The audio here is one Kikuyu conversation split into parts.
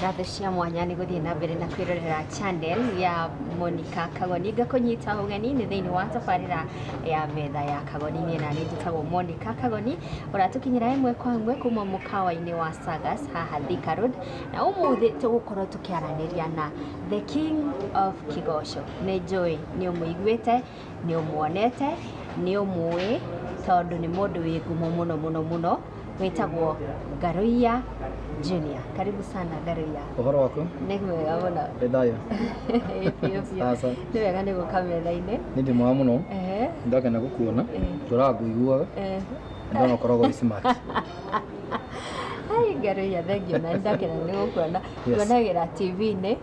Radhe cia mwanya nĩ gũthiĩ na mbere na kwĩrorera channel ya Monica Kagoni ngakũnyita ũgeni nĩ thĩinĩ wa tabarĩra ya metha ya Kagoni niĩ na nĩnjĩtagwo Monica Kagoni ũratũkinyĩra ĩmwe kwa ĩmwe kuma mũkawa-inĩ wa Sagas haha Thika Road na ũmũthĩ tũgũkorwo tũkĩaranĩria na The King of Kĩgoco. Nĩ njũĩ nĩ ũmũiguĩte, nĩ ũmuonete, nĩ ũmũĩ tondũ nĩ mũndũ wĩ ngumo mũno mũno mũno wĩtagwo Ngarũiya Junior. Karibu sana Ngarũiya. Ũhoro waku? Nĩ mwega mũno. Wĩ thayũ? Ĩĩ, biũ biũ. Aca. Nĩ wega nĩ gũka metha-inĩ. Nĩ ndĩ mwega mũno. Ehe, Ndakena gũkuona. Eh. Tũraga ngũiguaga. ehe. Ndona ũkoragwo wĩ smart. Ai Ngarũiya, thengiũ na nĩ ndakena nĩ gũkuona. Yes. tuonagĩra TV-inĩ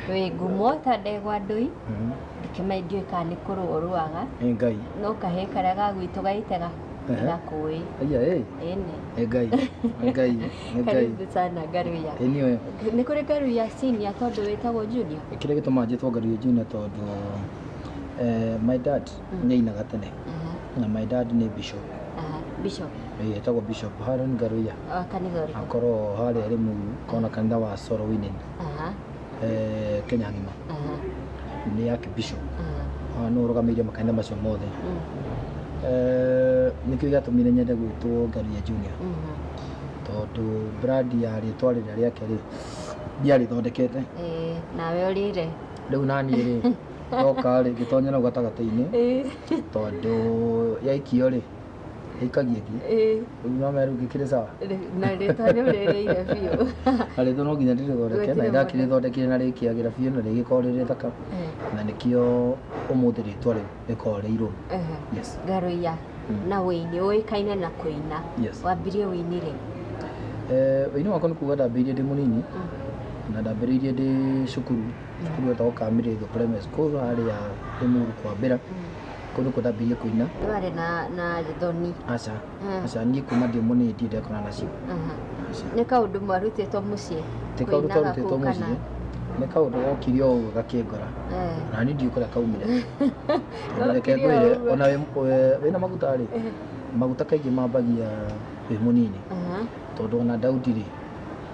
wĩ ngumo ta ndegwa ndũi Mhm. ndĩkĩmenya ndiũĩ kana nĩ kũrũa ũrũaga Ĩ ngai no kahĩ karĩa ga gwitũ gaitega Ehe. gakũĩ aya ĩ ĩnĩ Ĩ ngai Ĩ ngai Ĩ ngai karibu sana ngaruya Ĩ niĩ nĩ kũrĩ ngaruya senior tondũ wĩtagwo junior kĩrĩa gĩtũmaga njĩtwo ngario junior tondũ eh, my dad Mm. nĩ ainaga tene Mhm, na my dad nĩ bishop aha, Bishop, Eh, etagwo bishop Haron Garuya wa kanitha ũrĩkũ? akorwo harĩa rĩ mu kona kanitha wa Soro Winin Aha, eh, Kenya ng'ima aha, nĩ yake bishop aha, Ah, nĩ ũrũgamĩrĩire makanitha macio mothe mm, Eh, nĩkĩo gĩatũmire nyende gwĩtwo Garuya Junior mhm, tondũ brand ya rĩtwa rĩrĩa rĩake rĩ ndiarĩthondekete eh, nawe ũrĩre rĩu naniĩ rĩ yoka rĩ ngĩtonya nau gatagatĩ-inĩ Ĩĩ, tondũ yaikio rĩ ĩikagia ĩthiĩ ĩĩ, rĩu mama rĩu ngĩkĩrĩ sawa rĩ- na rĩtwa rĩu rĩrĩire biũ na rĩtwa no nginya ndĩrĩthondeke na Gwĩkĩre ndakĩrĩthondekire na rĩkĩagĩra biũ na rĩgĩkorwo rĩrĩ thaka Ĩĩ, na nĩkĩo ũmũthĩ rĩtwa rĩu rĩkoragwo rĩ irũrũ ehe. yes Garuiya Mm. na wĩini ũĩkaine na kũina Yes. wambirie wĩini rĩ Eh, ũini wakwa nĩ kuga ndambĩrĩirie ndĩ mũnini na ndambĩrĩirie ndĩ cukuru ibuku rĩu etagwo Kamiri the Primary School harĩ ya Limuru kwa Mbira kũndũ kũrĩa ndambĩrĩirie kũina Ndwarĩ na na thoni. aca Mm. aca niĩ kuma ndĩ mũnini ndirĩ ndekona nacio Aha. aca Nĩ kaũndũ mwarutĩtwo mũciĩ. ti kaũndũ kũinaga twarutĩtwo kũu kana- mũciĩ nĩ kaũndũ gokire o ũguo gakĩngora Eh. na niĩ ndiũĩ kũrĩa kaumire Tondũ reke Gokire o ngwĩre ũguo. ona wĩ- wĩ- wĩna maguta rĩ maguta kaingĩ mambagia wĩ mũnini Aha. tondũ ona Daudi rĩ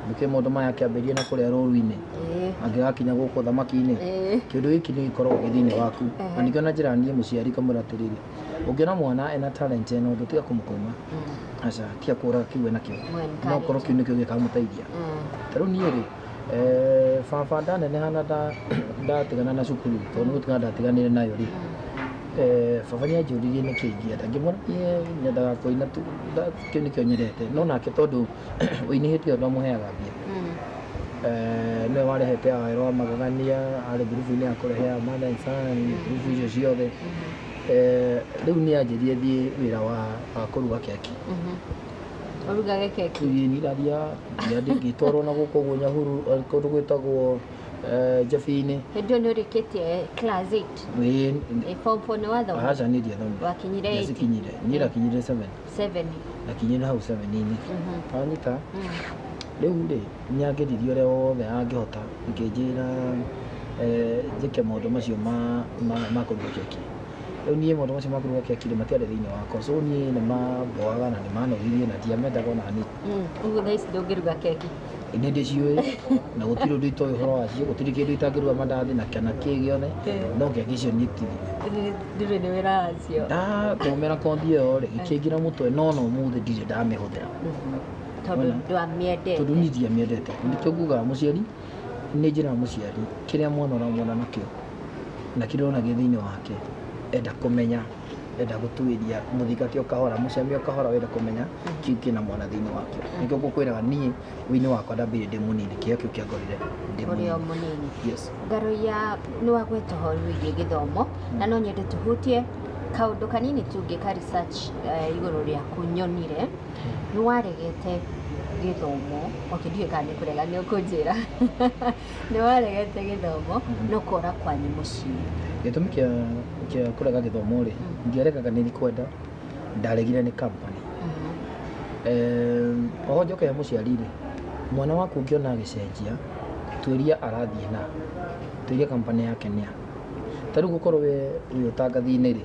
nĩkĩo mũndũ maya akĩambĩrĩria na kũrĩa rũũru-inĩ Ĩĩ. angĩgakinya gũkũ ũthamaki-inĩ Ĩĩ. kĩndũ gĩkĩ nĩ gĩkoragwo gĩ thĩinĩ waku Ehe. na nĩkĩo na njĩra niĩ mũciari kamwĩra atĩrĩrĩ ũngĩona mwana ena talent ĩno ũndũ tiga kũmũkũma Mm. aca tiga kũra kĩu enakĩo No encourage. no korwo kĩu nĩkĩo gĩkamũteithia Mm. ta rĩu niĩ rĩ eh, baba ndaneneha na nda- ndatigana na cukuru tondũ nĩgũtigana ndatiganire nayo rĩ eh, baba nĩ anjũririe nĩkĩ ingĩenda ngĩmwĩra niĩ nyendaga kũina tu nda- kĩu nĩkĩo nyendete no nake tondũ ũinĩhĩtie ũndũ amũheaga mbia Eh, nĩwe warehete aero a magegania arĩ ngurubu-inĩ ya kũrehe a Mother Son, ngurubu icio ciothe Eh, rĩu nĩ anjĩrie thiĩ wĩra wa wa kũruga keki ũrugage keki Thiĩ niraria ndia ndingĩtwarwo na gũkũ ũguo nyahuru eh, kũndũ gwĩtagwo eh, njabi-inĩ hĩndĩ ĩyo nĩ ũrĩkĩtie class 8 Ĩĩ, ĩ form 4 nĩ wathoma aca nĩ ndiathomire Wakinyire eight? Ndiacikinyire. niĩ ndakinyire 7 Seven. akinyire hau seveni-inĩ anyita rĩu rĩ nĩ angeririe ũrĩa wothe angĩhota ngĩnjĩra eh, njĩke maũndũ macio ma ma- ma kũruga keki rĩu niĩ maũndũ macio ma kũruga keki rĩ matiarĩ thĩinĩ wakwa so niĩ nĩ mamboaga na nĩ manogirie na ndiamendaga ona hanini Ũguo thaa ici ndũngĩruga keki. nĩ ndĩciũĩ na gũtirĩ ũndũ itoĩ ũhoro wacio gũtirĩ kĩndũ itangĩrua mandathi na kana kĩ gĩothe no kĩangĩcionyitithia ndirĩ nĩ wĩra wacio ndathomera kothi ĩyo rĩ gĩkĩngira mũtwe no no mũthĩ ndirĩ ndamĩhũthĩra tondũ ndwamĩendete tondũ niĩ ndiamĩendete nĩkĩo ngugaga mũciari nĩ njĩra mũciari kĩrĩa mwana ũramwona nakĩo na kĩrĩa ũrona gĩ thĩinĩ wake enda kũmenya wenda gutuiria muthinga kio kahora mucamio kahora wenda kumenya kiu kina mwana thiini wakio nikio ngukwiraga nie uini wakwa ndambire ndi munini kio kiu kiangorire ndi ũrĩ o munini mũnini yes ngaroia nĩ wagweta ũhoro wĩgiĩ gĩthomo na no nyende tũhutie kaũndũ kanini tungĩ ka research eh, igũrũ rĩaku nyonire nĩ waregete gĩthomo okay ndiũĩ kana nĩ kũrega nĩ ũkũnjĩra Nĩ waregete gĩthomo no kũra kwanyu mũciĩ. Gĩtũmi kĩa kĩa kũrega gĩthomo rĩ, ndiaregaga nĩ kwenda, ndaregire nĩ company. Em, Oho njoke he mũciari rĩ, mwana waku ũngĩona agĩcenjia, tuĩria arathiĩ na, tuĩria company yake nĩa. Ta rĩu gũkorwo we wĩ ũtangathi-inĩ rĩ,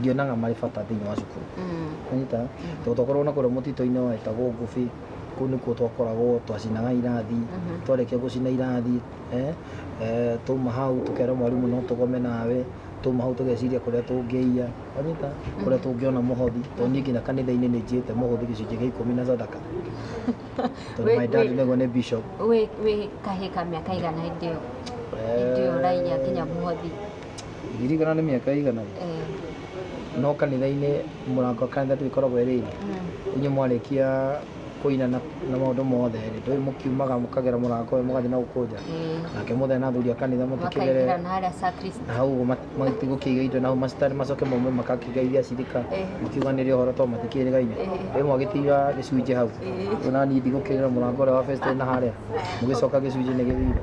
ndionaga marĩ bata thĩinĩ wa cukuru anyita tondũ twakoragwo na kũrĩa mũtitũ-inĩ wetagwo ngũbi kũu nĩkuo twakoragwo twacinaga irathi twarĩkia gũcina irathi eh, eh, twauma hau tũkera mwarimũ no tũgome nawe twauma hau tũgeciria kũrĩa tũngĩiya anyita kũrĩa tũngĩona mũhothi tondũ niĩ nginya kanitha-inĩ nĩ njĩte mũhothi gĩcunjĩ gĩa ikũmi na sadaka tondũ Wĩ- my dad wĩ- nĩguo nĩ bishop wĩ wĩ kahĩ ka mĩaka igana hĩndĩ ĩyo hĩndĩ ĩyo ũraiya nginya mũhothi ndirikana nĩ mĩaka ĩigana rĩ Mm, no kanitha-inĩ mũrango wa kanitha tũgĩkoragwo erĩire mm, inyuĩ mwarĩkia kũina na na maũndũ mothe rĩ ndũĩ mũkiumaga mũkagera mũrango ũyũ mũgathiĩ na gũkũ nja mm. nake mũthee na athuri a kanitha mũtikĩgere makaingĩra na harĩa sacristy na hau ũguo matigũkĩiga indo nau macitari macoke maume makakĩgeithia cirika Eh. makiuga nĩrĩ ũhoro to matikĩrĩgaine Eh. rĩu mwagĩtiga gĩcunjĩ hau Eh. ona niĩ ndigũkĩrĩra mũrango ũrĩa wa fesitĩ na harĩa mũgĩcoka gĩcunjĩ nĩ gĩthire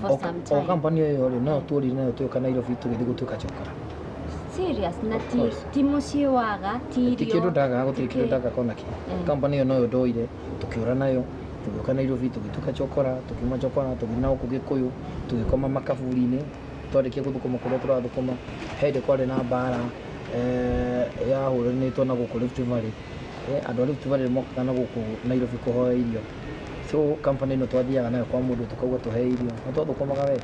for O- some o time. company ĩyo rĩ no tũrire nayo twĩka nairobi tũgĩthiĩ gũtuĩka cokora Serious na Of ti course. ti mũciĩ waga ti irio. ti kĩndũ ndaga gũtirĩ kĩndũ ndaga kona kĩ Mm. company ĩyo noyo ndoire tũkĩũra nayo tũgĩũka nairobi tũgĩtuĩka cokora tũkiuma cokora tũgĩthiĩ na gũkũ gĩkũyũ tũgĩkoma makaburi-inĩ twarĩkia gũthũkũma kũrĩa tũrathũkũma he hĩndĩ kwarĩ na mbara eh, yahũranĩtwo na gũkũ Rift Valley Eh, andũ a Rift Valley mokaga na gũkũ nairobi kũhoya irio so company ĩno twathiaga nayo kwa mũndũ tũkauga tũhe irio na twathũkũmaga we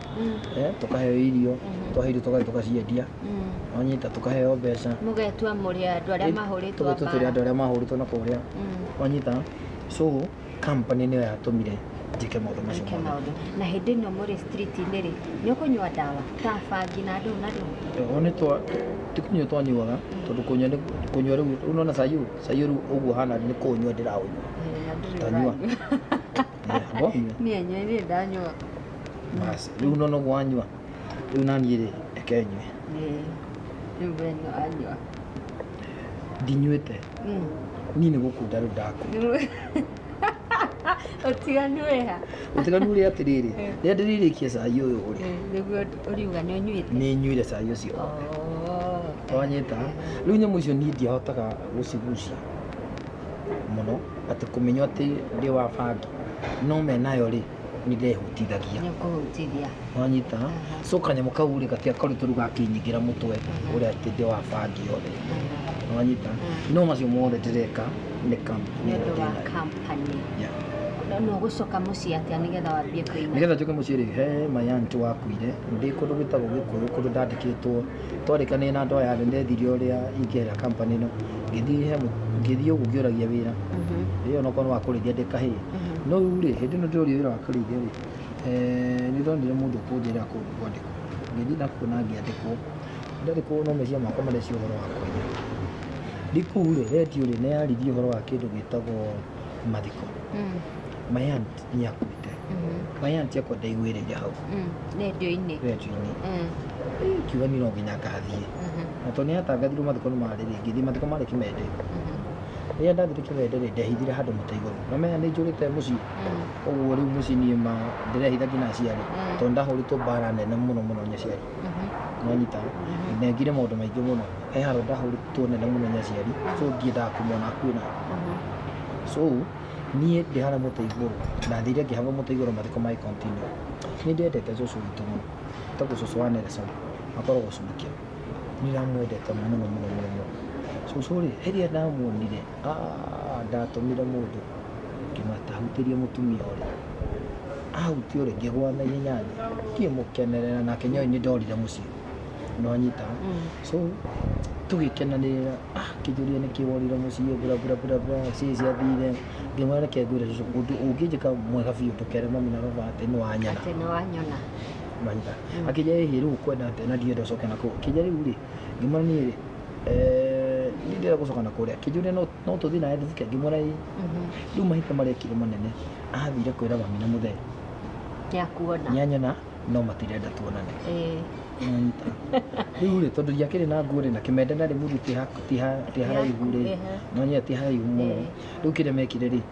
eh, tũkaheo irio twahe irio tũgathiĩ tũgaciendia wanyita tũkaheo mbeca mũgetua mũrĩ andũ arĩa mahũrĩtwo tũgetua tũrĩ andũ mbara arĩa mahũrĩtwo na kũrĩa wanyita so company nĩyo yatũmire njĩke maũndũ macio Eke mothe maũndũ na hĩndĩ ĩno mũrĩ street-inĩ rĩ nĩ ũkũnyua ndawa ta bangi na ndũũ na ndũũ Oho nĩ twa tikũnyua twanyuaga tondũ kũnyua nĩ- kũnyua rĩu rĩu nona cai ũyũ Caiyũ rĩu ũguo hana nĩ kũũnyua ndĩraũnyua. Eh, na ndĩrĩ Tanyua. ũranyua. Eh, ngonyua. Niĩ enyewe nĩ ndanyua. Basi, rĩu nona ũguo wanyua. Rĩu naniĩ rĩ, reke nyue. Eh, rĩu we nĩ wanyua. Ndinyuĩte. Mm. Niĩ nĩ gũkunda rĩu ndakunda. Nĩ- ũtiganu wĩ ha ũtiganu rĩ atĩrĩrĩ Eh. rĩrĩa ndĩrĩrĩkia cai ũyũ rĩ Eh, nĩguo ũriuga nĩ ũnyuĩte nĩ nyuire cai ũcio Oh. twanyita rĩu nyamũ icio niĩ ndiahotaga gũcigucia mũno atĩ kũmenya atĩ ndĩ wa bangi no me nayo rĩ nĩndehutithagia Nĩũkũhutithia. wanyita so kanyamũ kau rĩ gatia karitũ rĩu gakinyingĩra mũtwe ũrĩa atĩ ndĩ wa bangi yothe wanyita no macio mothe ndĩreka nĩ kam Nĩ ũndũ wa company. Yeah. Na no gũcoka mũciĩ atĩa nĩgetha wambie kũina? nĩgetha njoke mũciĩ rĩ he mayanti wakuire ndĩ kũndũ gwĩtagwo gĩkũyũ kũndũ ndandĩkĩtwo twarĩkanĩire na andũ aya rĩ ndethirie ũrĩa ingĩera company ĩno ngĩthiĩ he mũ- ngĩthiĩ ũguo ngĩũragia wĩra Mhm. ĩyo onokorwo nĩ wa kũrĩithia ndĩ kahĩĩ no rĩu rĩ hĩndĩ ĩno ndĩroria wĩra wa kũrĩithia rĩ eh, nĩ ndonire mũndũ ũkũnjĩra kũndũ kwandĩkwo ngĩthiĩ na kuona ngĩandĩkwo ndandĩkwo no meciria makwa marecia ũhoro wa kũiya ndi kũu rĩ redio rĩ nĩ yarithia ũhoro wa kĩndũ gĩtagwo mathiko Mm, mayanti nĩ akuĩte mhm, mayanti akwa ndaiguĩrĩire hau mm. Redio-inĩ. redio-inĩ Mm, Eh, kiuga niĩ no nginya ngathiĩ mhm, na tondũ nĩ hatangathirwo mathiko nĩ marĩ rĩ ngĩthiĩ mathiko marĩ kĩmende mhm. rĩrĩa ndathire kĩganda rĩ ndehithire handũ mũtĩ igũrũ namenya nĩ njũrĩte mũciĩ ũguo rĩu mũciĩ niĩ ma ndĩrehitha nginya aciari tondũ ndahũrĩtwo mbara nene mũno mũno nĩ aciari nonyita ndengire maũndũ maingĩ mũno he handũ ndahũrĩtwo nene mũno nĩ aciari so ndiendaga kũmona akuĩ na so niĩ ndĩ harĩa mũtĩ igũrũ ndathire ngĩhang'a mũtĩ igũrũ mathiko magĩ continue nĩ ndĩendete cũcũ witũ mũno etagwo cũcũ wa Nelson akoragwo Subukia Nĩndĩramwendete mũno mũno mũno mũno. Cũcũ rĩ, hĩndĩ ĩrĩa ndamuonire, aah ndatũmire mũndũ kĩmata ahutĩrie mũtumia ũrĩa. Ahutia ũrĩa ngĩgwa na ihenya thĩ, ngĩmũkenerera nake nĩoĩ nĩndorire mũciĩ. Nĩwanyita? So tũgĩkenanĩrĩra, ah akĩnjũria nĩkĩ worire mũciĩ bla bla bla bla ciĩ ciathire. Ngĩmwĩra reke ngwĩre cũcũ ũndũ ũngĩnjĩka mwega biũ ndũkere mami na baba atĩ nĩwanyona. Atĩ nĩwanyona. mahinda akĩnja ĩ rĩu kwenda atĩa na ndirenda ũcoke na kũu akĩnja rĩu rĩ ngĩmwĩra niĩ rĩ eh, niĩ ndirenda gũcoka na kũrĩa akĩnjũria no no tũthiĩ nawe thĩthika ngĩmwĩra ĩ rĩu mahinda marĩa ekire manene athire kwĩra mami na mũthee nĩakuona nĩanyona no matirenda tuonane Eh, Nĩwanyita. rĩu rĩ tondũ ndiakĩrĩ na nguo rĩ na kĩmende na rĩ mũndũ ti ha- ti ha- ti haraihu rĩ Ehe. nonyia ti haraihu mũno Eh. rĩu kĩrĩa mekire rĩ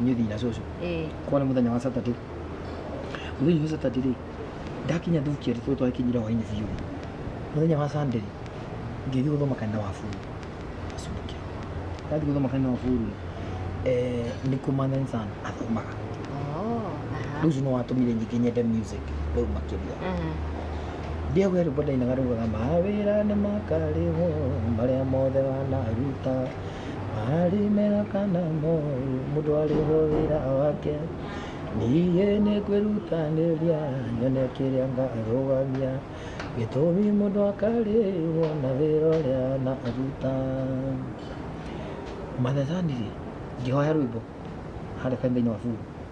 inyuĩ thiĩ na cũcũ Eh, kwa nĩ mũthenya wa saturday mũthenya wa saturday rĩ ndakinya thukia tũtũ twakinyire hwainĩ biũ mũthenya wa sunday rĩ ngĩthiĩ gũthoma kanitha wa buru acunike ndathiĩ gũthoma kanitha wa buru rĩ eh, nĩ kumanyan sana athomaga oh, aha. rĩu ũcio nĩ watũmire nyingĩ nyende music rĩu makĩria Aha. ndiagwä rwä mbo ndainaga raugaga mawä ra nä makarä wo marä a mothe wanaruta marĩ mega kana moru mũndũ arĩhwo wĩra wake niĩ nĩ kwĩrutanĩria nyone kĩrĩa ngarũgamia gĩtũmi mũndũ akarĩhwo na wĩra ũrĩa anaruta Mother Zari ngĩhoya rwĩmbo harĩa kanitha-inĩ wa Buru.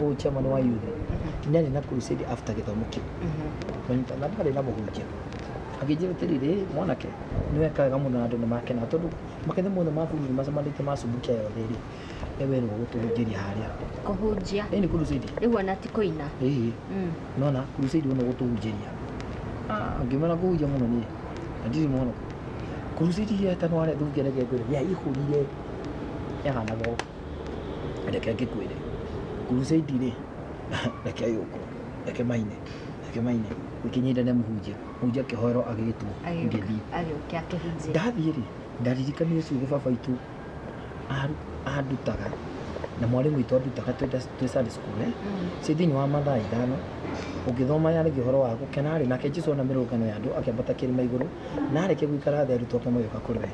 ũyũ chairman wa youth nĩ arĩ na crusade after gĩthomo kĩu kũnyita na ndarĩ na mũhunjia akĩnjĩra atĩrĩrĩ mwanake nĩ weka wega mũno na andũ nĩ makena tondũ makanitha mothe ma bũrũri macemanĩtie ma Subukia yothe rĩ nĩ werwo gũtũhunjĩria harĩa kũhunjia ĩĩ nĩ crusade rĩu ona ti kũina ĩĩ Mm. nona crusade ũno gũtũhunjĩria Ah, ngĩmena kũhunjia mũno niĩ na ndirĩ mũhonoku crusade iria ĩtanwarethungeregethere yaihũrire yahanaga ũũ reke ngĩkwĩre crusade rĩ reke yũkwo reke maine reke maine gĩkĩnyitane mũhunjia mũhunjia akĩhoerwo agĩtwo ngĩthiĩ agĩũke akĩhunjĩre ndathiĩ rĩ ndaririkania ũcio ũguo baba witũ aru- andutaga na mwarĩ witũ andutaga twĩ nda- twĩ Sunday school eh? ciĩ thĩinĩ wa mathaa ithano ũngĩthoma yarĩgia ũhoro wa gũkena rĩ nake jesu ona mĩrũngano ya andũ akĩambata kĩrĩma igũrũ na arĩkia gũikara thĩ arutwo ake magĩũka kũrĩ we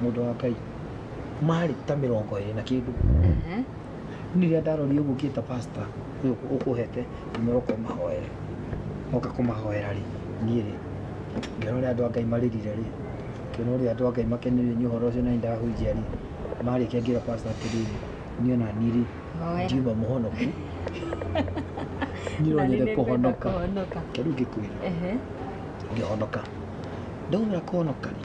Mũndũ wa Ngai. Marĩ ta mĩrongo ĩrĩ na kĩndũ. Ehe. Niĩ rĩrĩa ndarorire ũguo ngĩta pastor ũyũ ũkũhete umĩra ũka ũmahoere. Moka kũmahoera rĩ, niĩ rĩ, ngĩona ũrĩa andũ a Ngai marĩrire rĩ, ngĩona ũrĩa andũ a Ngai makenire nĩ ũhoro ũcio na nĩndahunjia rĩ, marĩkia ngĩra pastor atĩrĩrĩ, niĩ ona niĩ rĩ, Hoya. ndiuma mũhonoku. Niĩ Na niĩ no nyende nĩngwenda kũhonoka. kũhonoka. Kĩu ngĩkwĩra Ehe. ngĩhonoka ndaumĩra kũhonoka rĩ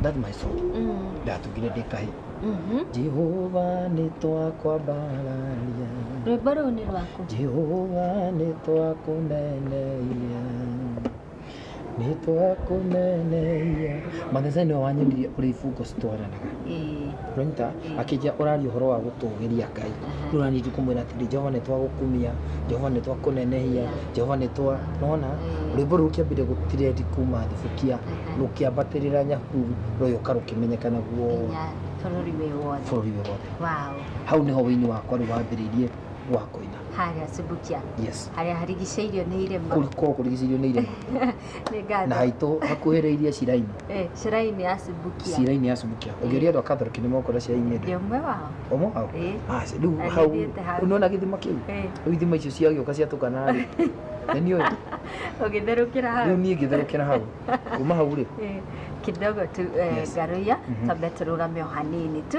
That's my song. Mm. Ndatugire ndĩ kahĩ. Mhm. Jehova nĩ twakwambararia. Rwĩmbo rũu nĩ rwaku. Jehova nĩ twakũneneia. Nĩ twakũneneia. Matheseni ũyũ wanyonirie ũrĩa ibungo citwaranaga. Ĩĩ. Ronita akĩnjia ũraria ũhoro wa gũtũũgĩria Ngai. Rĩu naniĩ ndikũmwĩra atĩrĩ Jehova nĩ twagũkumia, Jehova nĩ twakũnenehia, Jehova nĩ twa... Nona rwĩmbo rũu kĩambire gũtirendi kuma thubukia, rũkĩambatĩrĩra Nyahururu, rũgĩũka rũkĩmenyekana guothe, Nginya bũrũri wĩ wothe. bũrũri wĩ wothe. Wow. Hau nĩho ũini wakwa rĩu wambĩrĩirie wa kũina. Harĩa Subukia. Yes. Harĩa harigicĩirio nĩ irĩma. Kũu gũkoragwo kũrigicĩirio nĩ irĩma. Nĩ ngatho. na haitũ hakuhĩrĩirie cirainĩ Eh, Shiraini ya Subukia. cirainĩ ya subukia ũngĩũria andũ a kathoriki nĩ mokũra cirainĩ ĩndĩ Ndio mwe wao. ũmwe wao Eh. Ah, rĩu Na hau nĩthiĩte hau. unaona gĩthima kĩu Eh. rĩu ithima icio ciagĩũka ciatukana rĩ nĩ niĩ ũyũ Ũgĩtherũkĩra hau. rĩu niĩ ngĩtherũkĩra hau kuma hau rĩ Eh, kidogo tu eh, Yes. ngaruia Mhm. twambe tũrũgame o hanini tu